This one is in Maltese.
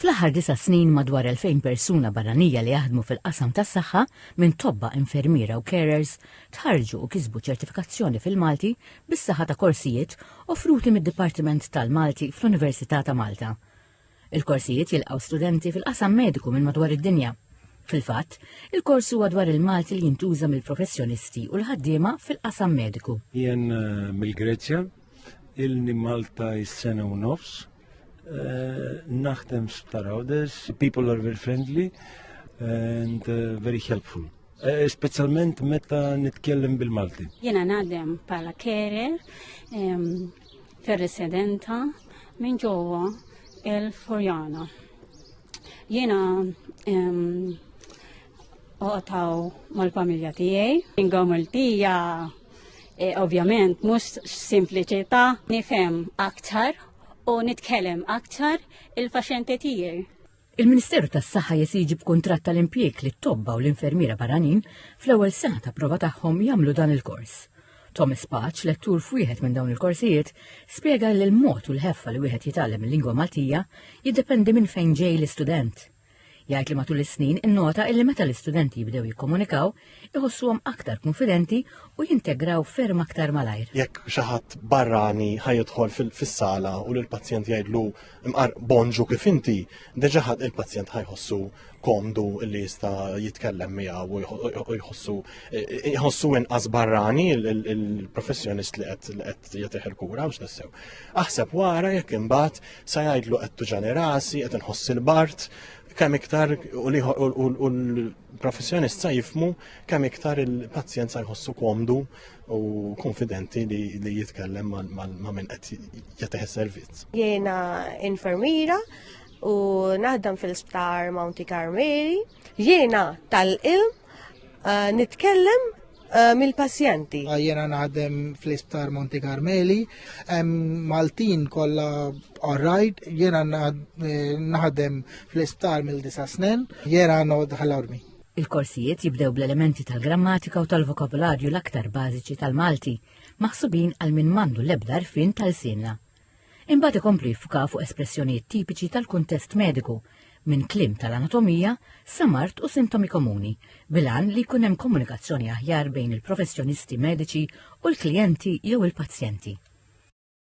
Fl-aħħar disa' snin madwar 2,000 persuna barranija li jaħdmu fil-qasam tas-saħħa, minn tobba, infermiera u carers, tħarrġu u kisbu ċertifikazzjoni fil-Malti bis-saħħa ta' korsijiet offruti mid-Dipartiment tal-Malti fl-Università ta' Malta. Il-korsijiet jilqgħu studenti fil-qasam mediku minn madwar id-dinja. Fil-fatt, il-kors huwa dwar il-Malti li jintuża mill-professjonisti u l-ħaddiema fil-qasam mediku. Jien eh, mill-Greċja, il-ni Malta is-sena u nofs, Eh, naħdem sptar għawdes, people are very friendly and eh, very helpful. Eh, Speċjalment meta nitkellem bil-Malti. Jena naħdem pala kere, ferresedenta, minn ġowa il-Forjana. Jena Oqtaw mal-familja tiegħi. Inga Maltija e, ovvjament mhux simpliċità nifhem aktar u nitkellem aktar il-faxenti tiegħi. Il-Ministeru tas-Saħħa jesiġi b'kuntratt tal-impjieg li tobba u l-infermiera barranin fl-ewwel sena ta' prova tagħhom jagħmlu dan il-kors. Thomas Paċ, lettur f'wieħed minn dawn il-korsijiet, spjega li l-mod u l-ħeffa li wieħed jitgħallem il-lingwa Maltija jiddependi minn fejn ġej l-istudent. Jgħid li matul is-snin innota illi meta l-istudenti jibdew jikkomunikaw, iħossuhom aktar konfidenti u jintegraw ferm aktar malajr. Jekk xi ħadd barrani ħajidħol fis-sala u lill-pazjent jgħidlu imqar bonġu kif inti, deġa ħadd il-pazjent ħajħossu komdu li jista' jitkellem miegħu u jħossu jħossu inqas barrani il-professjonist li qed jagħtih il-kura u x'nissew. Aħseb wara jekk imbagħad Sa jgħidlu qed tuġani rasi, qed inħoss il-bart, kemm iktar u l-professjonist sa jifmu kemm iktar il-pazjent sa jħossu komdu u konfidenti li jitkellem ma' minn qed jagħtih servizz. Jiena infermiera u naħdem fil-sptar Mounty Carmeli. Jiena tal-ilm eh, nitkellem eh, mill-pazjenti. Ah, jiena naħdem fl-isptar Monti Carmeli, Maltin kolla orrajt, jiena eh, naħdem fl-isptar mill-disa snen, jiena nod ħal-ormi. Il-korsijiet jibdew bl-elementi tal-grammatika u tal-vokabularju l-aktar bażiċi tal-Malti, maħsubin għal min mandu l-ebda rfin tal-sinna. Imbagħad ikompli jiffuka fuq espressjonijiet tipiċi tal-kuntest mediku, minn kliem tal-anatomija sa mard u sintomi komuni, bil-għan li jkun hemm komunikazzjoni aħjar bejn il-professjonisti mediċi u l-klijenti jew il-pazjenti.